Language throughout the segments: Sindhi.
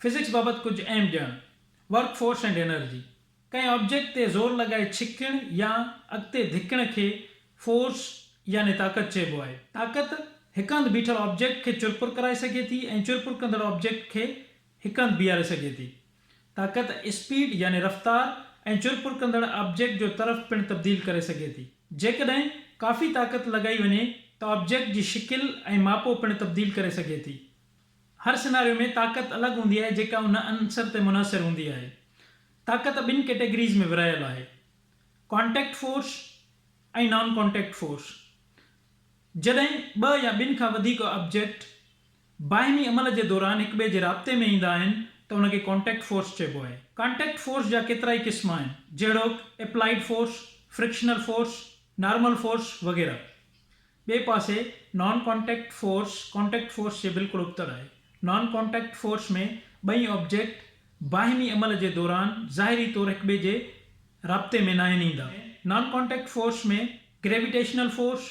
فزڪس بابت ڪجهه اهم ڄاڻ، ورڪ فورس اينڊ انرجي، ڪنهن آبجيڪٽ تي زور لڳائي ڇڪڻ يا اڳتي ڌڪڻ کي فورس يعني طاقت چئبو آهي. طاقت هڪ هنڌ بيٺل آبجيڪٽ کي چرپر ڪرائي سگهي ٿي ۽ چرپر ڪندڙ آبجيڪٽ کي هڪ هنڌ بيهاري سگهجي ٿي. طاقت اسپيڊ يعني رفتار ۽ چر پر ڪندڙ آبجيڪٽ جو طرف پڻ تبديل ڪري سگهي ٿي. جيڪڏهن ڪافي طاقت لڳائي وڃي ته آبجيڪٽ جي شڪل ۽ ماپو پڻ تبديل ڪري سگهي ٿي. هر سيناريو ۾ طاقت الڳ هوندي آهي جيڪا ان عنصر تي منحصر هوندي آهي. طاقت ٻن ڪيٽيگريز ۾ ورهايل آهي. Contact force ۽ non contact force. جڏهن ٻه يا ٻن کان وڌيڪ آبجيڪٽ باهمي عمل جي دوران هڪ ٻئي جي رابطي ۾ ايندا آهن ته ان کي ڪانٽيڪٽ فورس چئبو آهي. ڪانٽيڪٽ فورس جا ڪيترائي قسم آهن جهڙوڪ applied force, frictional force, normal force وغيره. ٻئي پاسي non contact force contact force جي بلڪل ابتڙ آهي. نان ڪانٽيڪٽ فورس ۾ ٻئي آبجيڪٽ باهمي عمل جي دوران ظاهري طور هڪ ٻئي جي رابطي ۾ ناهن ايندا. Non contact force ۾ gravitational force,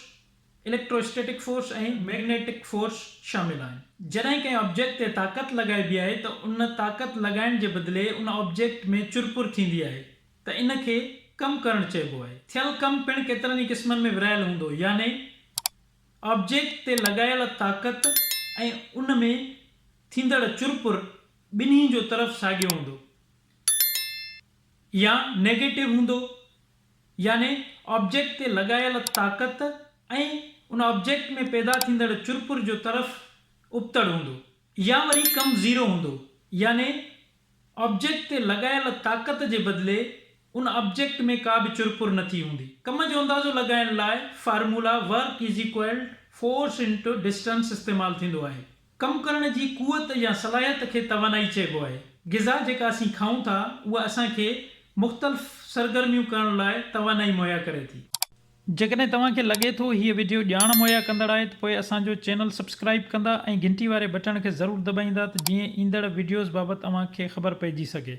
electrostatic force ۽ magnetic force شامل آهن. جڏهن ڪنهن آبجيڪٽ تي طاقت لڳائبي آهي ته ان طاقت لڳائڻ جي بدلي ان آبجيڪٽ ۾ چرپر ٿيندي آهي ته ان کي ڪم ڪرڻ چئبو آهي. ٿيل ڪم پڻ ڪيترن ئي قسمن ۾ ورهايل هوندو يعني آبجيڪٽ تي لڳايل طاقت ۽ ان ۾ ٿيندڙ چرپر ٻنهي جو طرف ساڳيو هوندو يا نيگيٽو هوندو يعني آبجيڪٽ تي لڳايل طاقت ۽ ان آبجيڪٽ ۾ پيدا ٿيندڙ چرپر جو طرف ابتڙ هوندو يا وري ڪم زيرو هوندو يعني آبجيڪٽ تي لڳايل طاقت جي بدلي ان آبجيڪٽ ۾ ڪا به چرپر نٿي هوندي. ڪم جو اندازو لڳائڻ لاء formula Work is equal Force into Distance استعمال ٿيندو آهي. ڪم ڪرڻ جي قوت يا صلاحيت کي توانائي چئبو آهي. غذا جيڪا اسين کائون ٿا اها اسان کي مختلف سرگرميون ڪرڻ لاء توانائي مهيا ڪري ٿي. جيڪڏهن توهان کي لڳي ٿو هيء وڊيو ڄاڻ مهيا ڪندڙ آهي ته پوء اسان جو چينل سبسڪرائيب ڪندا ۽ گهنٽي واري بٽڻ کي ضرور دٻائيندا ته جيئن ايندڙ وڊيوز بابت اوهان کي خبر پئجي سگهي.